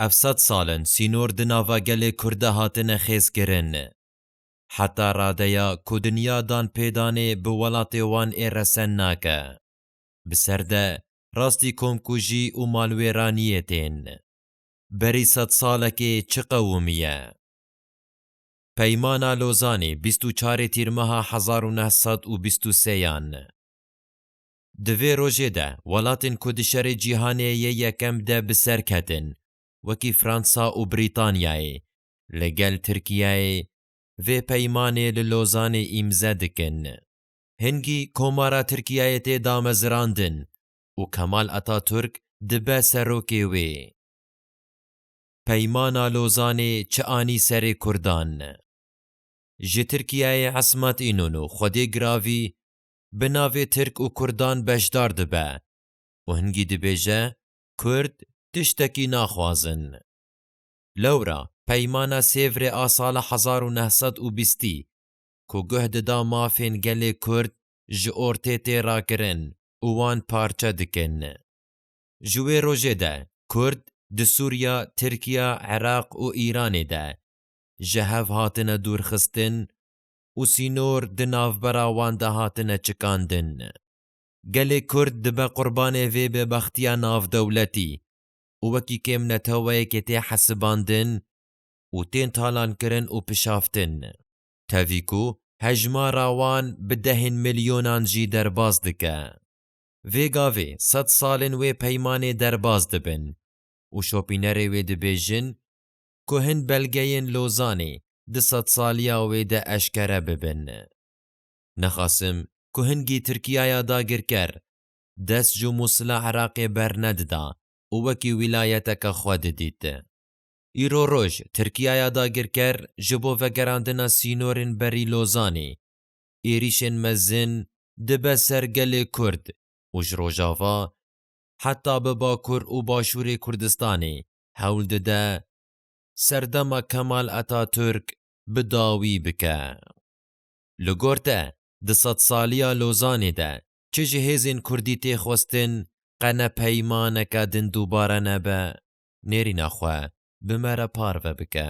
Ev sed sal in sînor di nava gelê Kurd de hatine xêzkirin. Heta radeya ku dinya dan pê danê bi welatê wan ê resen nake. Bi ser de rastî komkujî û malwêraniyê tên. Berî sed salekê çi qewimî ye? Peymana Lozanî bîst û çarê Tîrmeha hezar û neh sed û bîst û sêyan. Di vê rojê de welatên ku di Şerê Cîhanê yê Yekem de bi ser ketin wekî Fransa û Brîtanyayê li gel Tirkiyeyê vê peymanê li Lozanê îmze dikin. Hingî Komara Tirkiyeyê tê damezirandin û Kemal Ataturk dibe serokê wê. Peymana Lozanê çi anî serê Kurdan? Ji Tirkiyeyê Ismat Înonu, Xwedê Giravî bi navê Tirk û Kurdan beşdar dibe û hingî dibêje Kurd tiştekî naxwazin. Lewra Peymana Sêvrê a sala hezar û neh sed û bîstî ku guh dida mafên gelê Kurd ji ortê tê rakirin û wan parçe dikin. Ji wê rojê de Kurd di Sûriya, Tirkiya, Iraq û Îranê de ji hev hatine dûrxistin û sînor di navbera wan de hatine çikandin. Gelê Kurd dibe qurbanê vê bêbextiya navdewletî û wekî kêmneteweyekê tê hesibandin û tên talankirin û pişaftin. Tevî ku hejmara wan bi dehên milyonan jî derbas dike. Vê gavê sed salên wê peymanê derbas dibin û şopînerê wê dibêjin ku hin belgeyên Lozanê di sedsaliya wê de eşkere bibin. Nexasim ku hingî Tirkiyaya dagirker dest ji mû sila Iraqê bernedida û wekî wîlayeteke xwe didît. Îro roj Tirkiyaya dagirker ji bo vegerandina sînorên berî Lozanê êrîşên mezin dibe ser gelê Kurd û ji rojava heta bi bakur û başûrê Kurdistanê hewl dide serdema Kemal Atatürk bi dawî bike. Li gor te di sedsaliya Lozanê de çi ji hêzên kurdî tê xwestin qe ne peymaneke din dubare nebe, nêrîna xwe bi me re parve bike.